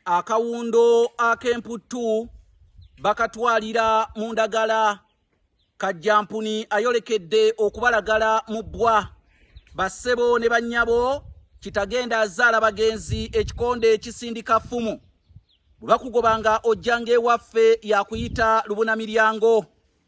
akawundo ak'emputtu bakatwalira mu ndagala kajjampuni ayolekedde okubalagala mu bbwa bassebo ne bannyabo kitagenda azaala bagenzi ekikonde ekisindika ffumu bwe bakugobanga ojjanga ewaffe yakuyita lubuna miryango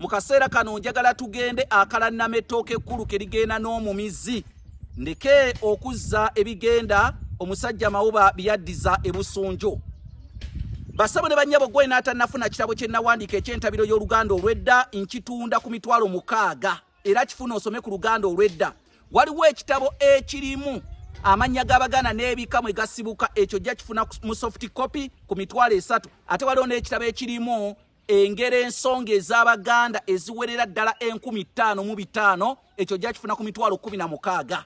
mu kaseera kano njagala tugende akalannama ettooka ekkulu ke ligenda n'omumizi ndeke okuzza ebigenda omusajja mawuba byeyaddiza ebusunjo basabo ne bannyabo gwe naatanafuna kitabo kye nnawandiika eky'entabiro y'oluganda olw'edda nkitunda ku mitwalo mukaaga era kifuna osome ku luganda olw'edda waliwo ekitabo ekirimu amannya g'abaganda n'ebika mwe gasibuka ekyo jja kifuna mu soft copy ku mitwalo esatu ate waliwo n'ekitabo ekirimu engero ensonga ez'abaganda eziwerera ddala enkumi ttaano mu bitaano ekyo gyakifuna ku mitwalo kumi na mukaaga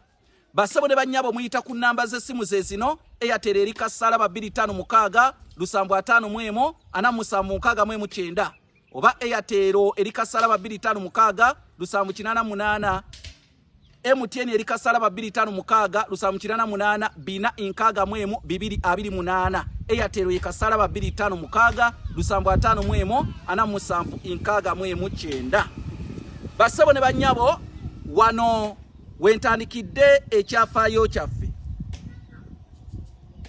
basebo ne bannyabo muyita ku nnamba z'essimu ze zino eyatera eri kasaala ba bbiri ttaano mukaaga lusambu ataano mu emu ana musanvu mukaaga mu emu kyenda oba eyatero eri kasaala ba bbiri ttaano mukaaga lusambu kinaana munaana MTN eri kasala ba 25 mukaga lusamu kirana munana bina inkaga mwemu bibiri abiri munana Airtel ye kasala ba 25 mukaga lusamu atano mwemu ana musamu inkaga mwemu kyenda Basebo ne banyabo wano wentandikide ekyafayo kyaffe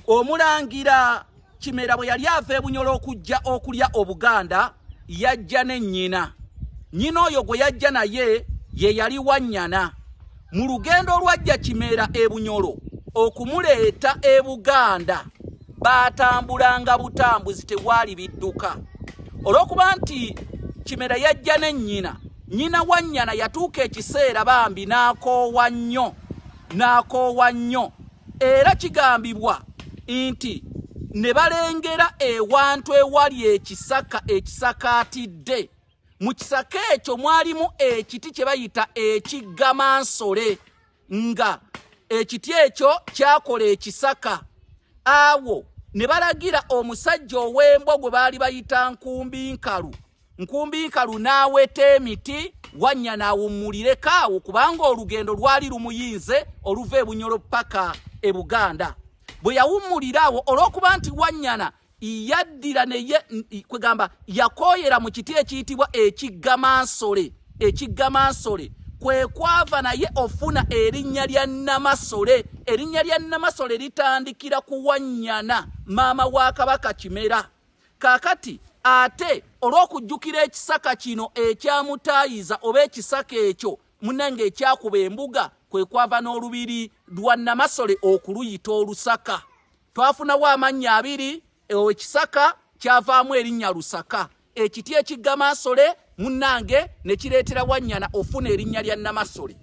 Omulangira Kimera bwe yali ava e Bunyoro okujja okulya Obuganda yajja ne nnyina. Nnyina oyo gwe yajja naye ye yali Wannyana. Mu lugendo olwajja Kimera e Bunyoro okumuleeta e Buganda baatambulanga butambuzi tewaali bidduka. Olw'okuba nti Kimera yajja ne nnyina, nnyina Wannyana yatuuka ekiseera bambi n'akoowa nnyo n'akoowa nnyo. Era kigambibwa nti ne balengera ewantu ewali ekisaka ekisakaatidde mu kisaka ekyo mwalimu ekiti kye bayita ekiggamansole nga ekiti ekyo kyakola ekisaka awo ne balagira omusajja ow'embwa gwe baali bayita nkumbi nkalu Nkumbi nkalu n'aweta emiti wannya n'awummulireko awo kubanga olugendo lwali lumuyinze oluva e Bunyoro ppaka e Buganda. Bwe yawummulira awo olw'okuba nti wannyana yaddira neye kwegamba yakooyera mu kiti ekiyitibwa ekiggamansole ekiggamansole kwe kwava naye ofuna erinnya lya Namasole. Erinnya lya Namasole litandikira ku wannyana maama wa Kabaka Kimera. Kakati ate olw'okujjukira ekisaka kino ekyamutaayiza oba ekisaka ekyo munange ekyakuba embuga kwe kwava n'olubiri lwa Namasole okuluyita Olusaka. Twafunawo amannya abiri, ekisaka kyavaamu erinnya Lusaka, ekiti ekigga Mansole munnange ne kireetera wannyana ofuna erinnya lya namasole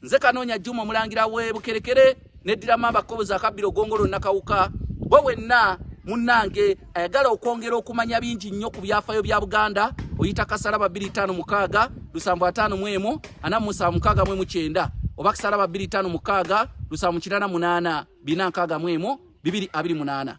nze kanoonya juma omulangira we bukerekere neddira mamba kobozi akabbiro gongolo nakawuka bwe wenna munnange ayagala okwongera okumanya bingi nnyo ku byafayo bya buganda oyita kasalaba 25 lusambu 5 mwemu ana musanvu mukaaga mwemu kyenda oba kasalaba 25 mukaaga lusambu kirana munaana bina nkaaga mwemu bibiri abiri munaana